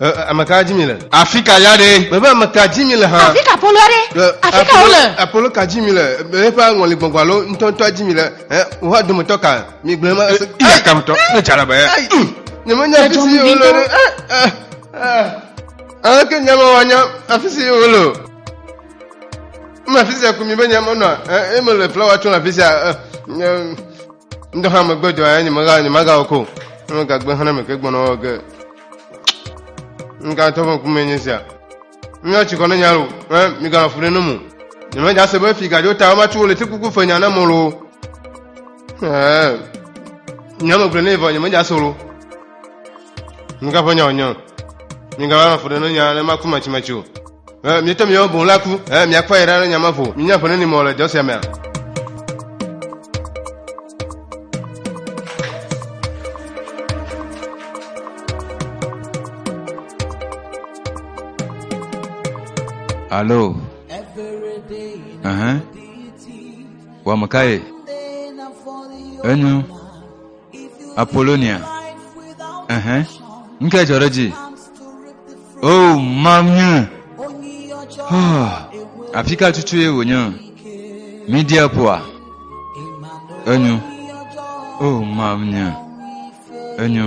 Ɛ, ɛ, ame ka dzi mi le? Afi ka ya ɖe? Mebe ame ka dzi mi le hã? Afi ka Apolo ɖe? Ɛ, Afi ka wole? Apolo- Apolo ka dzi mi le? Ɛ, Eƒe aŋɔli gbɔngbɔn alo ŋutɔŋutɔa dzi mi le? Ɛ, Woƒe dometɔ ka? Mi gblɔe ma. Ɛ, Iya kametɔ, ne dza la be. Ai, Nyemenya afi si Edzɔ mi wole ɖo. ŋutɔ. Ɛ, ɛ, ɛ. Aleke nyamawa nya afi si wole o? Eme afi sia ko mi be nyamanɔa? Ɛ, Eme le flawa tsom le afi sia. Ɛ, ɛ, ŋdɔ hã megbe dɔ ya nyemega nyemagawɔ ko nyemegagbe hã na meke gbɔnɔ wɔ ge ŋgatɔ ƒe ŋkume nye sia míawo tsikɔ ne nyalo ɛ miganɔ fu ɖe ne mu nyemedza se be fi gadzo ta womatu wole ti kuku fe nya na mɔ lo ɛ nyamegblɔ ne vɔ nyemedza se lo Migava nya wònye o. Migava nɔ ƒo ɖe ne nya ne maku matsimatsi o. Ɛ, Mietɔ miawo boŋ la ku. Ɛ, Miakpɔ yi ɖa ne nya ma ƒo. Minya ƒo ne ni mɔ le dɔ sia mea. Alo. Ɛhɛn. Wɔ meka ye. Enyo. Apolonia. Ɛhɛn. Nu kae dzɔ ɖe dzi? O oh, mawunya. Oh, ah, afi ka tutu ye wònya? Media poa. Enyo. O oh, mawunya. Enyo.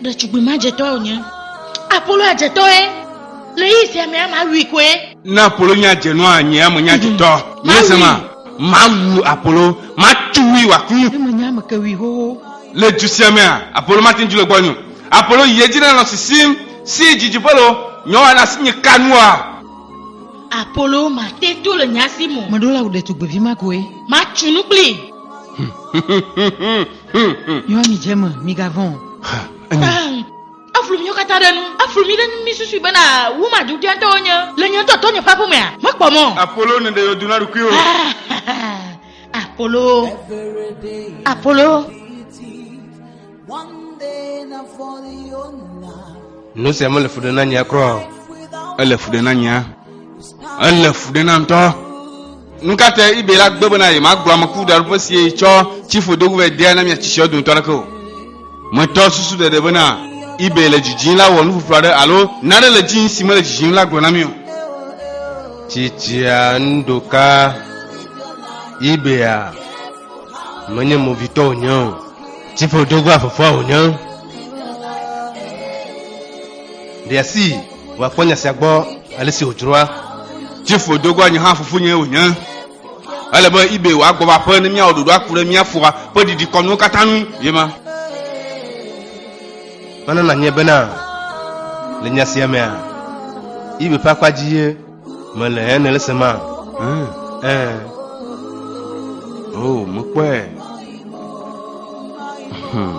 Ɖetugbui ma dzetɔe wònye. Apolonia dzetɔe. Le ɣeyiɣi sia mea, mawui koe. Ne Apolonia dze nua anyi emenye dzetɔ. Míese ma? Mawu Apolo, matu wui wòaku. Ne menye ame ke wui xoxo. Le du sia mea, Apolo mate ŋu le gbɔnye o. Apolo yi edzi nenɔ sisim, si didiƒe loo, nye wɔna si nye ka nua? Apolo mate to le nya sim o. Meɖo la wu ɖetugbuivi ma koe. Matsu nu kplii. Yɔ mi dze me, migavɔ̃ o. Ha, enye. Eflu míwo katã ɖe nu. Eflu mí ɖe nu mísusui bena wu maɖuɖia tɔwo nye. Le nye ŋutɔ tɔnye ƒe aƒe mea, mekpɔ mɔ. Apolo neɖe yewo du na ɖokui o. Apolo. Apolo. Nu sia mele fu ɖe na nyea kura o. Ele fu ɖe na nyea. Ele fu ɖe na ŋutɔ. Nu ka te ibe la gbe bena yemagblɔ ame kuku ɖaɖoƒe si ye tsɔ tsi ƒo do vɛ dea na mia tsitsia dometɔ aɖeke o? Metɔ susu ɖeɖe bena ibe le dzidzim la wɔ nuƒoƒo aɖe alo nane le dzi si mele dzidzim la gblɔ na mí o. Tsitsia nuɖoka ibea menye movitɔ wònye o, tsi ƒo do vɛ fofoa wònye. Ɖe asi. wòakpɔ nya sia gbɔ ale si wòdzroa. Tifo do goa nye hã fofonye wònye. Ele be ibe wòagbɔ va aƒe ne míawɔ ɖoɖo aku ɖe mía foa ƒe didikɔnuwo katã ŋu ye ma. Mana nanye bena le nya sia mea, ibe ƒe akpa dzi ye mele he nele se ma. Ɛɛ. O, mekpɔe. Hmm.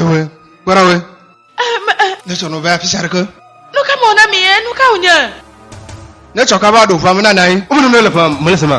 Ewe, kpɔɖa we. Ne tsɔ nɔvɛ afi sia ɖeke. Nu ka mɔ na mi ye? Nu ka wònye? Ne tsɔ ka va ɖo ʋua me na nanyi. Wome nɔnɔ le ʋua me le se ma.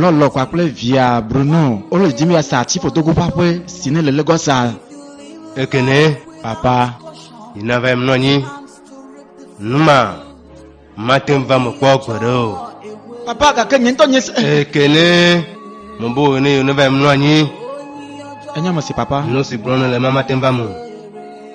Lɔlɔ kpakple via Bruno wole dim ya sa tsiƒodogo ƒe aƒe si ne le Lagos a. Ekene. Papa. Yina va mlɔ anyi. Numa. Mate ŋu va me kpɔ gbeɖe o. Papa gake nye ŋutɔ nye se. Ekene. Mo bo ne yone va mlɔ anyi. Enye me si papa. Nu si gblɔm le mama te va me.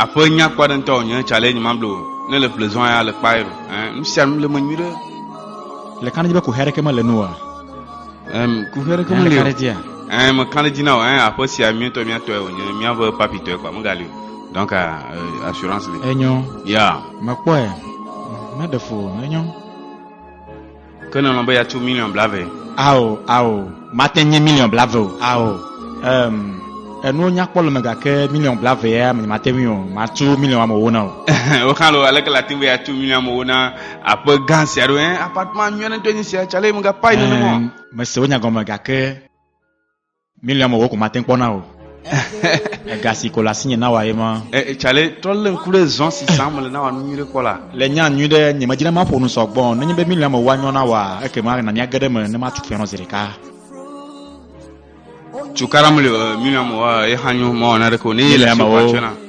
Aƒe nyakpɔ aɖe ŋutɔ wònye. Challenge ma blo ne le ƒle zɔa ya le kpae o. Ɛɛ, nu sia nu le eme nyuiɖe. Le kã ɖe edzi be kuxi aɖeke mele enu oa? Ɛm, kuxi aɖeke Ɛɛ, le meli kã ɖe o. edzia? Ɛɛ, mekã ɖe edzi na wò. Ɛɛ, aƒe sia mía ŋutɔ mía tɔe wònye. Mía ƒe papi tɔe kpɔ megali o. Donc, ɛɛ, assurance li. Enyo. Ya. Mekpɔe. Meɖe fu o. Enyo. Ke nèlɔ̃ be yeatso miliɔn blave? Ao, ao, mate ŋu nye miliɔn blave o. Ao, em, enuwo nya kpɔ le eme gake miliɔn blave ya nyemate ŋui o. Matso miliɔn ame ewo na o. Woxlã loo, aleke le ate ŋu be yeatso miliɔn ame ewo na aƒe gã sia ɖo? Ẽ, appartement nyui aɖe ŋutɔe nye esia, tsale megakpɔe nenema o. Ẽ, mese wò nya gɔme gake. Miriam wɔ ko mate kpɔ na o. Ega si ko le asinye na wɔ ye ma. Tsale trɔ lé ŋku ɖe zɔn si sam mele na wɔ nu nyuiɖe kpɔ la. Le nya nyui ɖe nye medzina maƒo nu sɔgbɔ nenye be Miriam wɔ anyɔ na wɔa ekema na míage ɖe eme ne matu fianɔ zi ɖeka. Cukaɖa mele Miriam wɔa ye hã nyo mawɔ naneke o ne ye le si ko atsɔe na.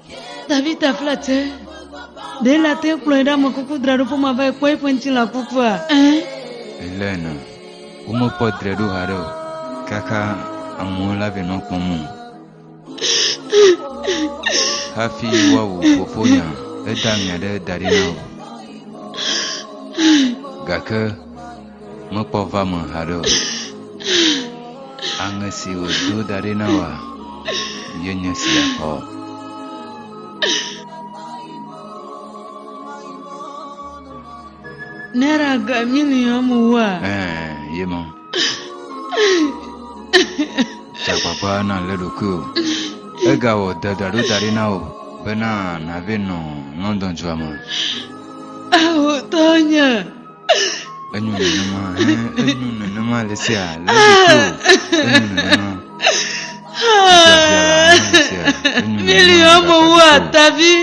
Davida fla te. Ɖe la te kplɔe ɖe ame kuku draɖo ƒe ma va ekpɔ eƒe ŋutilã kukua? Ẽ. Ele nɔ. Womekpɔ dre ɖo haɖe o. Kaka amewo la vɛ nɔ kpɔm o. Hafi woawu fofonya, eda ŋa ɖe da ɖi na o. Gake Mekpɔ va me haɖe o. Aŋe si wòdo da ɖi na wòa, ye nye sia xɔ. Nera ga mini amu wa. Ɛɛ, ye ma. Tsagbagba na le ɖokui o. Egawɔ dedaɖo da ɖi na wò bena nàve nɔ London dua me. Awotɔ nye. Enyo nenema, eh, enyo nenema le sia, le ɖekio. Enyo nenema. Biabia la, enyo le sia, enyo nenema. Mili le ɔmɔ wu ɖekio. atavi.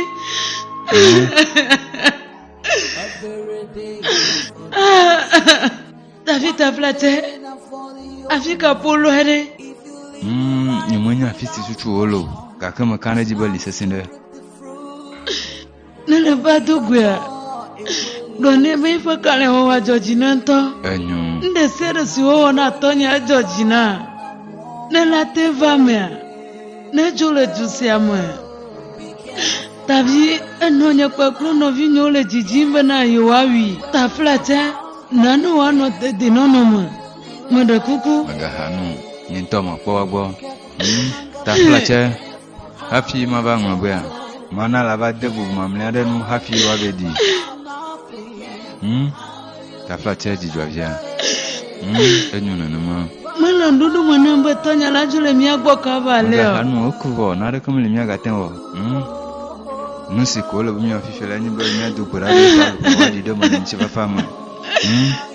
Davi tabla tɛ. Afi ka polo ɖe. Mm, nyemenya afi si susu wole o, gake meka ɖe edzi be li sesẽ ɖe. Ne nèva do goea, gblɔ nɛ be eƒe kalẽwɔwɔ adzɔ dzi na ŋutɔ. Enyo. Nu ɖe sia ɖe si wowɔ na tɔnye adzɔ dzi na. Ne la te va mea, nedzo le du sia me. Tavi enɔ nye kpakple nɔvinyewo le dzidzim bena yewoawui. Taflatse, na ne wòanɔ dedinɔnɔ me. Meɖe kuku. Megaha nu. Nye ŋutɔ mekpɔ egbɔ. Hmm? Taflatse. Hafi mava ŋlɔbea, mana la va de bubu mamlea ɖe nu hafi woave ɖi. Hmm? Tafla tse dzidzɔ via. Hmm? Enyo nenema. Mele nuɖuɖu me ne be tɔnya la dzo le mía gbɔ kava le o. Mega nu oku vɔ, na ɖeke mele mía gate wɔ. Hmm? Nu si ko le be mía fifi la nye be mía do gbe ɖa be va ɖi ɖe mele ŋuti fafa me. Hmm?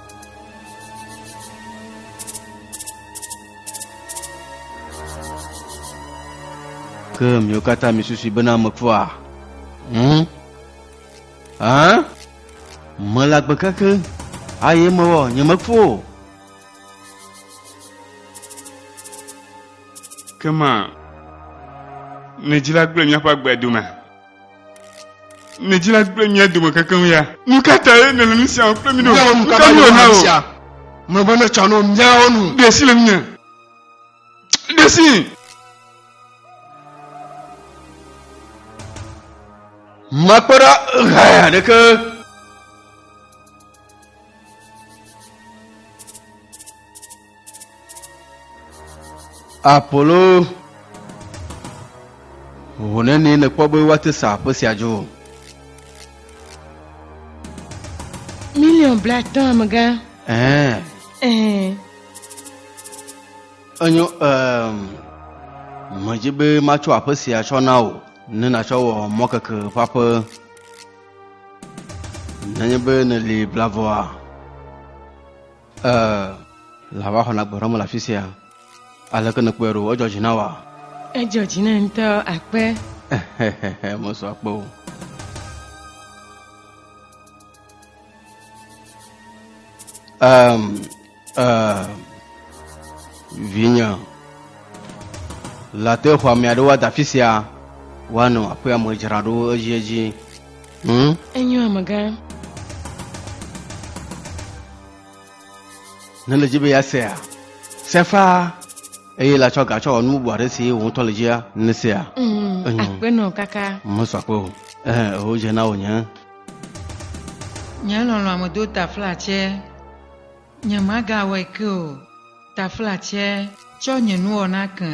Ke miwo katã misusui bena mekua? Hm? Hã? Mele agbe keke, aye mewɔ nyemeku o. Ke ma, midzra gblẽ míaƒe agbe dome. Mia dzila kple mia dome kekeŋ ya. Nu ka tae nèle nu sia kple mi ɖo? Miawo nu ka tae nèle nu sia? Mlɔeba netsɔ no miawo nu. Ɖe si le ŋunye. Ɖe si. Makpe ɖa ɣe aɖeke. Apolo, ho nenie nèkpɔ be woate sa aƒe sia dzo? Miliɔn blatɔ̃ amegã. Ɛɛ. Ɛɛ. Enyo, ɛɛ, medzi be matsɔ aƒe sia tsɔ na wò ne nàtsɔ wɔ mɔkeke ƒe aƒe. Nenye be nèli blavɔa, Ee, lã va xɔna gbe ɖɔme le afi sia. Aleke nèkpɔe ɖo? Edzɔ dzi na wòa? Edzɔ dzi nam ŋutɔ akpe. Mesɔ akpe o. Um, uh, vinye la te xɔ ame aɖewo ada afi sia woanɔ aƒea me dzraɖo edziedzi Hmm? Enyo amegã. Ne le dzi be ya sea, se faa eye la tsɔ ga tsɔ wɔ nu bubu aɖe si wò ŋutɔ le dzia, ne sea. Hmm, Enyo. Akpenɔ kaka. Mesɔ akpe o. Eh, o dze na wò nye. Nye lɔlɔ̃ amedo ta fla tsɛ. Nyemagawɔe ke o. Taflatse. Tsɔ nye nuwɔna ke.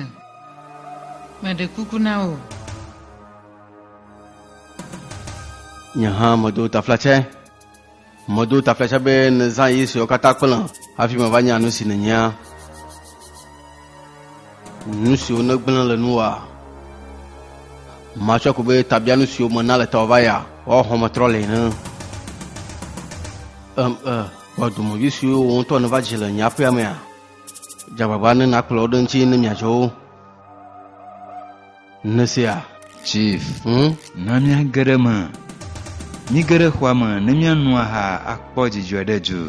Meɖe kuku na wò. Nye hã medo taflatse. Medo taflatse be nèzã yi suewo katã kplem hafi mava nya nu si nènyea. Nu siwo nègblẽ le nuwòa. Matsɔe ko be tabianu siwo mena le tawòva ya, woaxɔmetrɔ le ene. Em, e. Kpɔ dɔmedzoe siwo wò ŋutɔ nèva dzi le nye aƒea mea? Dze agbagba ne nàkplɔ wo ɖe ŋuti ne miadzɔ wo. Nèsea? Chief, Hm? na míage ɖe eme. Míge ɖe xɔa me ne míano aha akpɔ dzidzɔe ɖe du.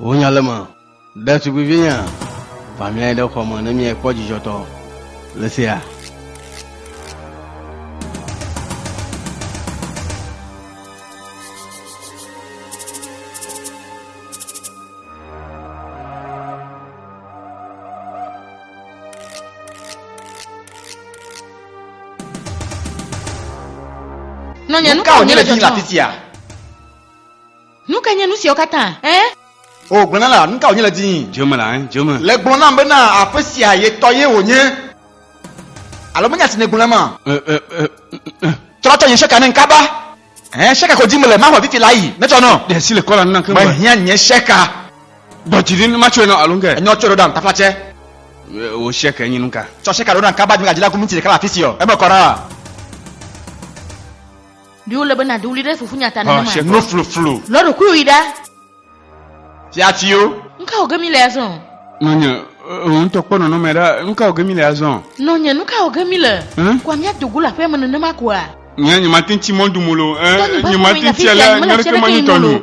Wò nya le eme, ɖetugbuivinyea? Va mlɔe ɖe xɔ me ne míakpɔ dzidzɔtɔ le sea. Nɔnye, nu ka wònye le dzɔdzɔ? Nu ka nye nu siawo katã? Eh? O gblɔ na la, nu ka wònye le dii? Dzeme la, hein, dzeme. Le gblɔ nam bena aƒe sia ye tɔ ye wònye. Alo menya si nègblɔ nam a? Ɛ, ɛ, ɛ, ɛ, ɛ. Trɔ tsɔ nye sheka ne ŋkaba. Ɛɛ, sheka ko dim mele, maxɔ fifi la yi, netsɔ nɔ. Ɖe asi le kɔla nanke ŋgɔe. Mehiã nye sheka. Ɖɔ dzi ɖi ne matsɔe nɔ alo ŋke. Enyɔ tsɔe ɖo ɖam taflatsɛ. Ɛ, wò sheka nye nuka? Tsɔ sheka ɖo ɖam kaba, dzimegadzila ku minti ɖeka le afisia o, eme kɔ ɖaa. Ɖi wòle be nàdo ɣli ɖe fofonye ta nenema? Xɔ nufluflu. Lɔ ɖokuiwò yi ɖa. Fiafiwo. Nukawo ge míle azɔ? Nɔnye, wò ŋutɔ kpɔ nɔnɔme ɖa. Nukawo ge míle azɔ? Nɔnye, nukawo ge míle? Kɔa míado go le aƒeame nenema koa? Nye, nyemate ŋu tsi mɔdom o loo. Nye, nyemate ŋu tsia le nyɔɖekemanyitɔ nu o.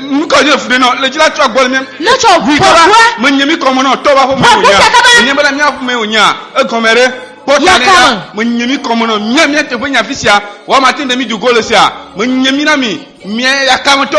nukɔ nye fu ɖe nɔ le dzila tsɔ gbɔ mi. ne tsɔ ʋui kɔ la me nye mi kɔmɔ nɔ tɔ wa ƒe me o nya me nye bena mia ƒe me o nya egɔmɛ ɖe kpɔta ne la me nye mi kɔmɔ nɔ mia mia teƒe nya fi sia wa ma te ne mi dogo le sia me nye mi na mi mia yakametɔ.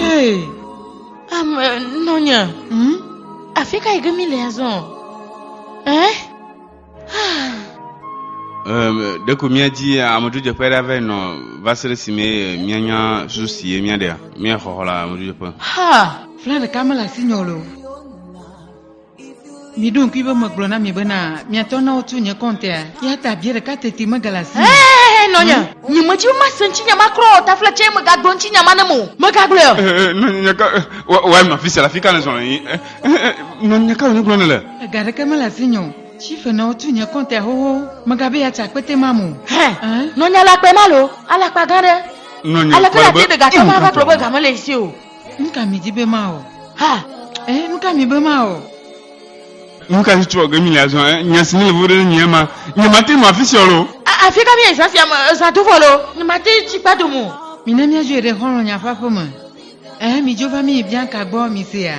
Hey, ame nɔnya. Hmm? Afi ka yi ke míle azɔ? Eh? Ah, Ehm, ɖeko míadi amedzrodzeƒe aɖe ave nɔ va se ɖe esime eh, míanya susu si ye míaɖea. Míaxɔxɔ le amedzrodzeƒe. Ha! Fla ɖeka mele asinye o le o. Miɖo ŋkui be megblɔ na mi bena miatɔ na wotu nye kɔntea, ya ta bia ɖeka teti megale asi. Ee, nɔnye, hmm? nye medzi be mase ŋutinya ma kura o, tafila tsɛ megagblɔ ŋutinya ma ne mo. Megagblɔe o. Ee, nɔnye, ka wɔe nɔ afi sia le afi ka nèzɔ le yi? Nɔnye, ka wònye gblɔ ne le? Ega ɖeke mele asinye o. Chife nɔ wotu nye kɔntea xoxo, megabe yeatsa akpete ma mo. Hɛ, nɔnye alakpae ma lo, alakpa gã ɖe. Nɔnye, aleke la te ɖe gake ma va gblɔ be game le esi o. Nu ka mi di be mawɔ? Ha! Eh, nu ka mi be mawɔ? Nu ka si trɔ ge mi le azɔ? Eh, nya si mi le vovo ɖe nye ema. Nye mate nɔ afi sia lo. Afi ka mi azã sia me? Ezã do vɔ lo. Nye mate tsi kpa dome o. Mina míadzoe ɖe xɔlɔ̃nya ƒe aƒe me. Eh, mi dzo va mi Bianca gbɔ, mi sea?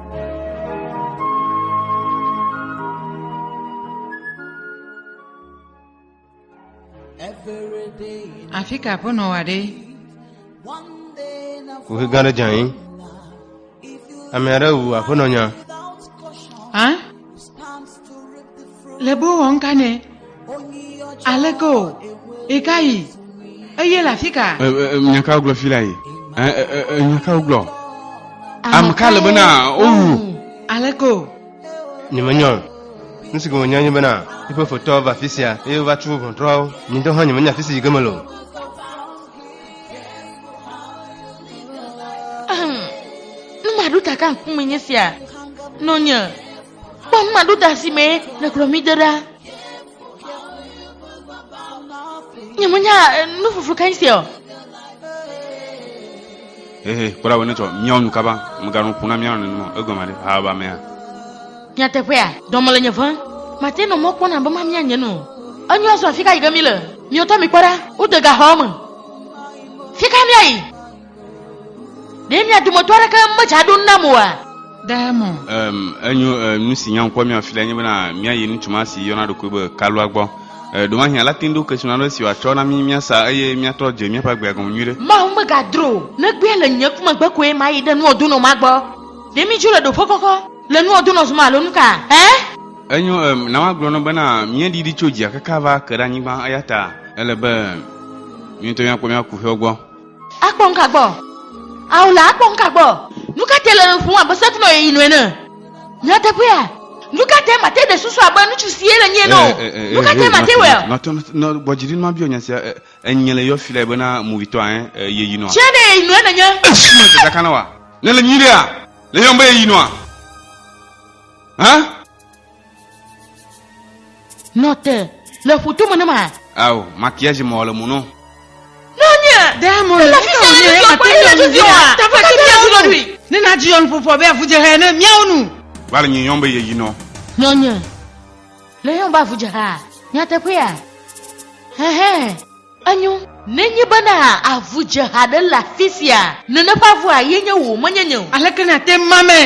Afi ka aƒenɔ wa ɖe? Kuxi gã ɖe dze anyi. Ame aɖe wu aƒenɔ nya. Hã? Le bo wɔm ka nɛ? Aleke o? Eka yi? Eye le afi ka? Nya ka wogblɔ fi la yi? Nya ka wogblɔ? Ame ka le bena wowu? Aleke o? Nyemenyɔ o. Nu si gome nya nye bena eƒe fotɔ va afi sia eye wova tso ʋɔntrɔawo. Nye ŋutɔ hã nyemenya afi si yi ge mele o. Nu maɖo ta ka ŋkume nye sia nɔ nye. Kpɔ nu maɖo da si mee nèkplɔ mí de ɖa. Nyemenya eh, nu fofo kae sia o. Ehe, kpɔɖa wɔ ne tsɔ míawo nu kaba, mèganɔ ƒo na míawo nenema o. Egɔme ɖe, haba amea. Nyateƒea, dɔme le nye ʋẽm. Mate nɔ mɔ kpɔna be mamia nye nu o. Enyo azɔ afi ka yi ge míle? Miwo tɔ mikpɔ ɖa. Wode gaxɔa me. Fi ka míayi? Ɖe mia dometɔ aɖeke medza ɖo nam oa? Ɖe mo. Um, enyo, uh, nu si nya ŋkɔ mia fi la nye bena míayi ŋutsu ma si yɔna ɖokui be Kalua gbɔ. Uh, Ɖomahi ala te ŋu ɖo kesinɔ aɖe si wòatsɔ na mí míasa eye míatrɔ dze míaƒe agbea gɔme nyuiɖe. Mawu megadro o. Ne egbea le nye kume gbe koe mayi ɖe nua donɔ ma gbɔ. Ɖe mídzo le ɖoƒe kɔkɔ le nua donɔ zuma alo nuka? Ẽ? Enyo, um, na woagblɔ nɔ bena míeɖi ɖi tso dzia kaka va ke ɖe anyigba, eyata ele be mí ŋutɔ míakpɔ mía kuxiwo gbɔ. Akpɔ ŋka gbɔ. Ao la akpɔ ŋka gbɔ. Nu ka te le nuƒom abe sekunɔ yi nu ene? Nyateƒea? Nu ka te mate ɖe susu abe nutsu si ye le nyie nɔ? Nu ka te mate wɔe? Nɔtɔ nɔ gbɔ dzi ɖin ma biɔ nya sia enye le yɔ fi la ebena movitɔ ɛ ye yi nɔa. Tse ɖe ye yi nu ene nye. Esi me dada kana wa ne le nyui ɖea le yɔm be ye yi nɔa? Hã? Nɔte le ƒuto me ne ma. Ao, makiage mɔ le mu nɔ. Nɔnye. Ɖe mo le fi sɛ ne do akpɔ le tu zio a. Tafa ke mia zio dui. Ne na dzi yon popɔ be avu je he ne mia onu. Va le nyi yon be ye yi nɔ. Nɔnye. Le yon ba avu je ha. Mia te pe ya. He he. Enyo, nenye bena avu dze ha ɖe le afisia, nene ƒe avua ye nye wò, menye nye o. Aleke nàte ŋu mame?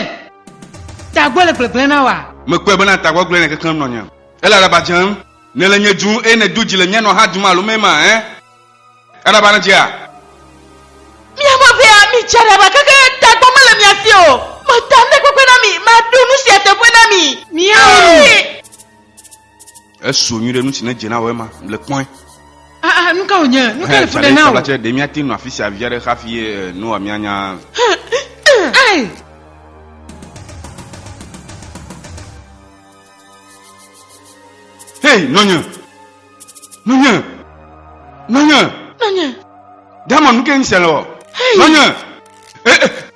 Tagbɔ le gblegblẽ na wòa? Mekpɔe bena tagbɔgblẽ le keklẽm nɔ nye. Ele aɖaba dzem. Nèle nye dum eye nèdo dzi le nye nɔ ha dum alo mee ma ẽ? Aɖaba nedzea? Mia me ʋɛ a, mitsi aɖaba keke, tagbɔ mele mia si o. Meta nuteƒekpe na mi, maɖo nusia teƒe na mi. Miawo nu. Esu nyuie ɖe nu si ne dze na wò ema le kpɔe. Ah, ah, nu ka wònye? Nu ka le fu ɖe na wò? Tsɛ ɖe míate nɔ afi sia vi aɖe hafi eh, Noa míanya. Ai! Hei, nɔnye! Nɔnye! Nɔnye! Nɔnye! Dama nu ke ŋsɛ le wɔ. Nɔnye! Eh, eh.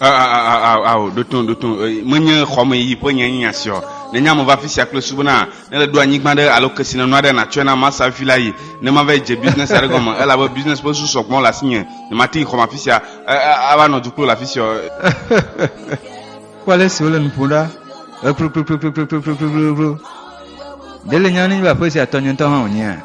ao ɖoto ɖoto menye xɔme yi ƒe nye nya siɔ nenye ame va fi sia kple subu na ne le do anyigba ɖe alo kesi nenu aɖe natsɔe na masa fi la yi ne ma va dze business aɖe gɔme ela be business ƒe su sɔgbɔn le asi nye ne ma ti xɔme afi sia ava nɔ duklo le afi sia kpɔ ale si wole nuƒo ɖa ekplokplokplokplokplokplokplokplokplo ɖe le nya ne va ƒe sia tɔnyɔntɔ hã wònyea